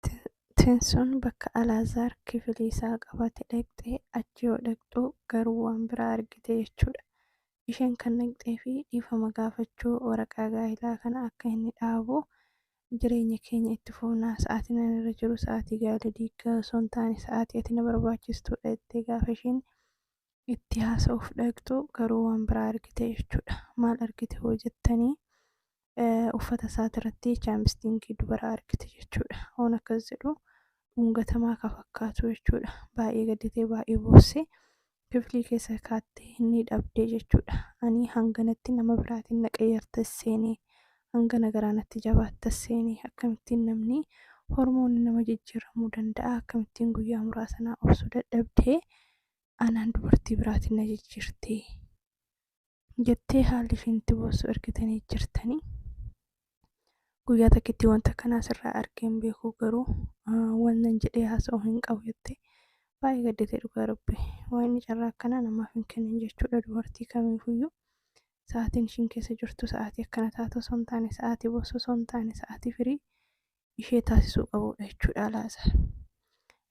Dubartiin sun bakka Alaazaar kifilii isaa qabate dhaqxe, achi yoo dhaqxu garuu waan biraa argite jechuudha. Isheen kan dhaqxee fi dhiifama gaafachuu waraqaa gaa'ilaa kana akka inni dhaabu jireenya keenya itti fufnaa sa'aatiin ani irra jiru sa'aatii gaa'ila diiggaa osoo hin taane sa'aatii ati na barbaachistuudha jettee gaafa isheen itti haasa'uuf dhaqxu garuu waan biraa argite jechuudha. Maal argite hoo jettanii? uffata isaatirratti chaampistiinkii dubaraa argite jechuudha. Hoon akkas jedhu dhungatamaa ka fakkaatu jechuudha. Baay'ee gadditee baay'ee boossee kiflii keessa kaattee inni dhabdee jechuudha. Ani hanganatti nama biraatiin na qayyarta seenee hangana garaa natti jabaatta seenee akkamittiin namni hormoonni nama jijjiiramuu danda'a akkamittiin guyyaa muraasa naa obsuu dadhabdee anaan dubartii biraatiin na jijjiirtee jettee haalli ishiin itti boossu ergitanii jirtanii. Guyyaa takkitti wanta kanaa sirraa argee hin beeku garuu wannan jedhee haasa'u hin qabu jettee baay'ee gadditee dhugaa rabbi waa'inni carraa akkanaa namaaf hin kennin jechuudha dubartii kamiifuyyuu sa'aatiin ishiin keessa jirtu sa'aatii akkana taatu osoo hin taane sa'aatii boossu osoo hin taane sa'aatii firii ishee taasisuu qabuudha jechuudha alaazaar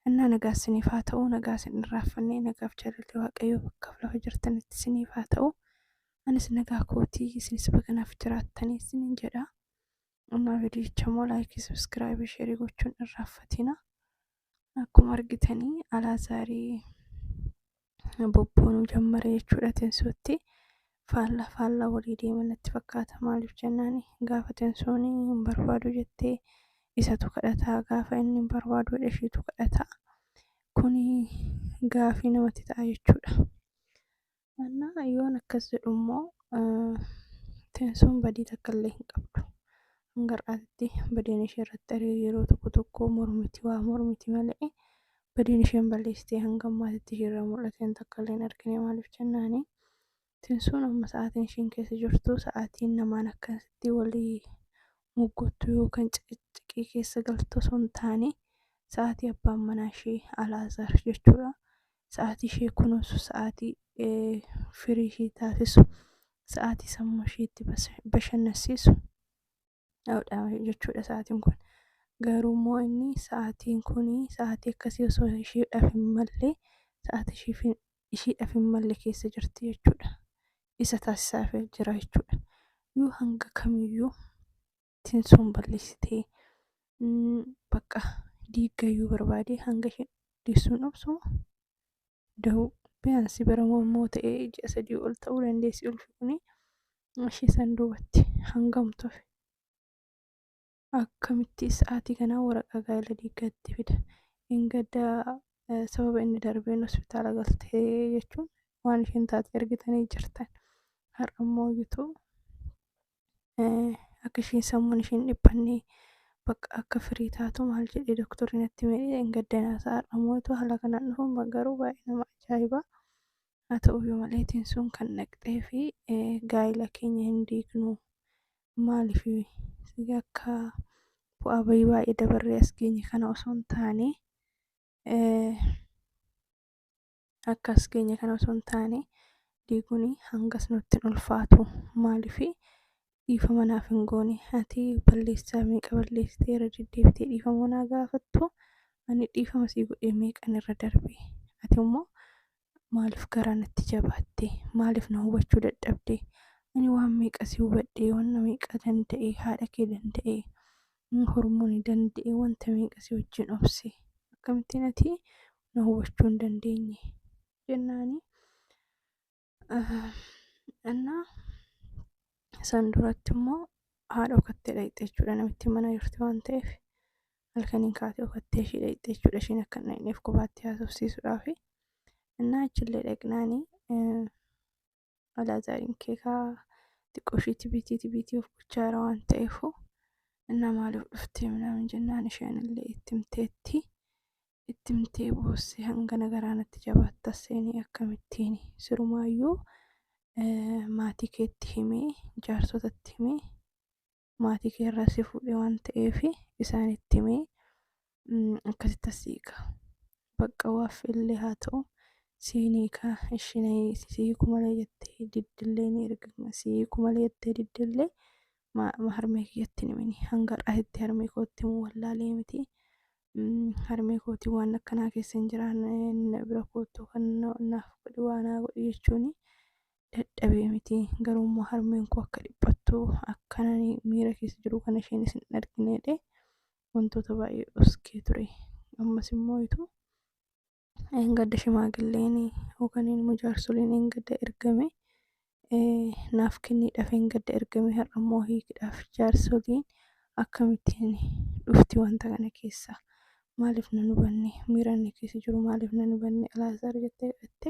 annaa nagaa isiniif haa ta'u nagaa isin irraaffanne nagaaf jaalalli waaqayyoo bakkaaf lafa jirtanitti isiniif haa ta'u anis nagaa kootii isinis baganaaf jiraattanii isinin jedha ammaa vidiyicha immoo laayikii sabiskiraaybii sheerii gochuun irraaffatina akkuma argitanii alaazaarii bobboonuu jammare jechuudha tensuutti faallaa faallaa walii deema natti fakkaata maaliif jennaan gaafa tensuun hin barbaadu jettee isatu kadhataa gaafa inni hin barbaadu ishiitu kadhataa kuni gaafii namatti ta'a jechuudha. Annaa yoon akkas jedhu immoo teensoon badii takka illee hin qabdu. Hanga har'aatti badiin ishee irratti arge yeroo tokko tokko mormiti waa mormiti malee badiin isheen balleessitee hanga ammaatitti ishee irraa mul'ateen takka illee hin argine maaliif jennaani. Teensoon amma sa'aatiin isheen keessa jirtu sa'aatiin namaan akkasitti walii moggottu yookaan ciqiciqii keessa galtu osoo hin taane sa'aatii abbaan manaa ishee Alaazaar jechuudha. sa'aatii ishee kunuunsu sa'aatii firii ishee taasisu sa'aatii sammuu ishee itti bashannansiisu dha jechuudha sa'aatiin kun garuu immoo inni sa'aatiin kun sa'aatii akkasii osoo isheedhaaf hin malle sa'aatii isheedhaaf hin malle keessa jirti jechuudha isa taasisaaf jira jechuudha yoo hanga kamiyyuu tinsoon balleessitee bakka diiggayyuu barbaadee hanga isheen deessuun obsuma da'uu biyaansi bara mormoo ta'ee ji'a sadii ol ta'uu dandeessi ulfi kuni ishee san duubatti hangam tufe akkamitti sa'aatii kanaa waraqaa gaa'ela diiggaatti fida ingadda sababa inni darbeen hospitaala galtee jechuun waan isheen taate argitanii jirtan har'a immoo gitu eh, akka ishiin sammuun ishiin dhiphanne bakka akka firii taatu maal jedhee doktorri natti himee hin gaddanaa sa'a dhamootu haala kanaan dhufuun ba- garuu baay'ee nama ajaa'iba haa ta'uyyuu malee tiin sun kan dhaqxee fi eh, gaa'ila keenya hin diignu maaliif si akka bu'aa bayii baay'ee dabarree as geenye kana osoo hin taane eh, akka as geenye kana osoo hin taane diiguun hangas nutti hin ulfaatu maaliif dhiifama naaf hin goone ati balleessaa meeqa balleessitee irra deddeebitee dhiifama naa gaafattu ani dhiifama sii godhee meeqan irra darbe ati immoo maaliif garaa natti jabaatte maaliif na hubachuu dadhabde ani waan meeqa si hubadhe waan meeqa danda'e haadha kee danda'e hormooni danda'e wanta meeqa si wajjin obse akkamittiin ati na hubachuu hin dandeenye jennaani annaa san duratti immoo haadha okattee dhaqxe jechuudha namitti mana jirti waan ta'eef halkaniin kaatee okattee ishii dhaqxe jechuudha ishiin akka hin dhaqneef qubaatti haasofsiisuudhaafi innaa achillee dhaqnaani Alaazaariin kee kaa xiqqoo ishii tibiitii tibiitii of gochaa jira waan ta'eefu innaa maaliif dhuftee minaamin jennaan isheen illee itti himteetti itti himtee boosse hangana garaanatti jabaatta seenii akkamittiin sirumaayyuu eh, maatii keetti himee jaarsotatti himee maatii kee irraa si fuudhe waan ta'eef isaanitti himee akkasitti as hiika. Bakka waaf illee haa ta'u siin hiika ishiin si hiiku malee jettee diddillee ni erga si hiiku malee jettee diddillee harmee kiyyatti hin himini hanga har'aatitti harmee kootti himuu wallaalee miti. Harmee kootii waan akkanaa keessa hin jiraanne na bira kootu kan naaf godhi waa naa godhi jechuun dadhabee miti garuu immoo harmeen koo akka dhiphattu akkan ani miira keessa jiru kana isheenis hin argine jedhee wantoota baay'ee dhoskee ture ammas immoo ituu gadda shimaagilleen yookaan immoo jaarsoliin hin gadda ergame naaf kenniidhaaf hin gadda ergame har'a immoo hiikidhaaf jaarsoliin akkamittiin dhufti wanta kana keessa maaliif nan hubanne miiraan keessa jiru maaliif nan hubanne alaazaar jettee dhatte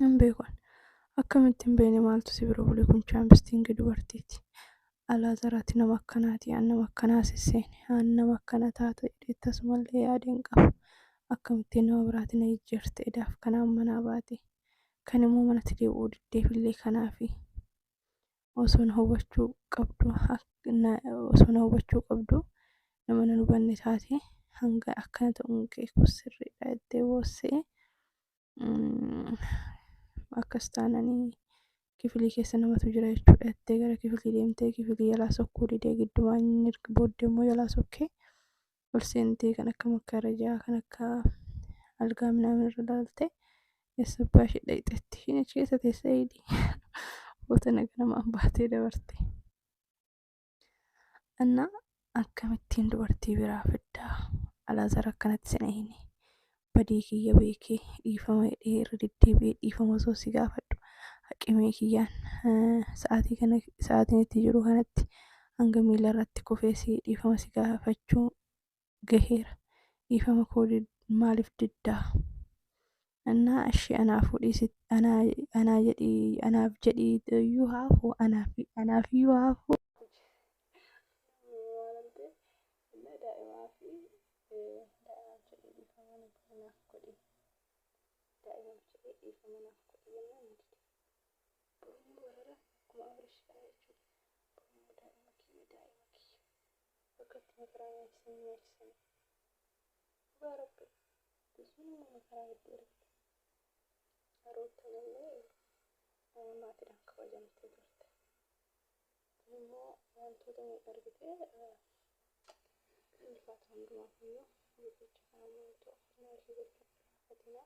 Hin beeku ani. Akkamitti hin beekne maaltu si bira bule kun chaampistiingi dubartiiti. Alaazar ati nama akkanaati aan nama akkanaa sisseene aan nama akkana taata jedhee tasumallee yaade hin qabu. Akkamittiin nama biraati na jijjiirte edaaf kanaan manaa baate. Kan immoo manatti deebi'uu diddeefillee kanaafi. Osoo na hubachuu qabdu osoo na hubachuu qabdu nama na hubanne taate hanga akkana ta'uun kee kun sirriidha jettee boossee akkas taananii kifilii keessa namatu jira jechuudha jettee gara kifilii deemtee kifilii jalaa sokkuu didee giddumaan inni erga booddee immoo jalaa sokkee ol seentee kan akka makkarajaa kan akka algaa minaamin irra laaltee eessa abbaa ishee dhaqxeetti ishiin achi keessa teessee eegdi boota naga namaan baatee dabarte. እና akkamittiin dubartii biraa fiddaa alaazar akkanatti sina hini badii kiyya beekee dhiifama hidhee irra deddeebi'ee dhiifama osoo si gaafadhu haqimee kiyyaan eh, sa'aatii kana sa'aatiin itti jiru kanatti hanga miila irratti kufee si dhiifama si gaafachuu gaheera dhiifama koo maaliif diddaa annaa ashii anaa fuudhii sit anaa anaa jedhii anaaf jedhii iyyuu haafuu anaaf anaaf iyyuu haafuu bakka itti makaraa nyaachisan nyaachisani dhugaa rabbi biyyiin amma makaraa hedduu argite ruuttanillee maatiidhaan kabajamtee turte kun immoo wantoota miidha argite ulfaata hundumaaf iyyuu viidiyicha kana maaltu afaan ishee gochuun irraanfatina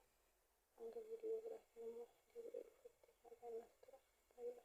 hanga viidiyoo biraatiin immoo deebi'ee dhufutti nagaan naaf tura baay'ee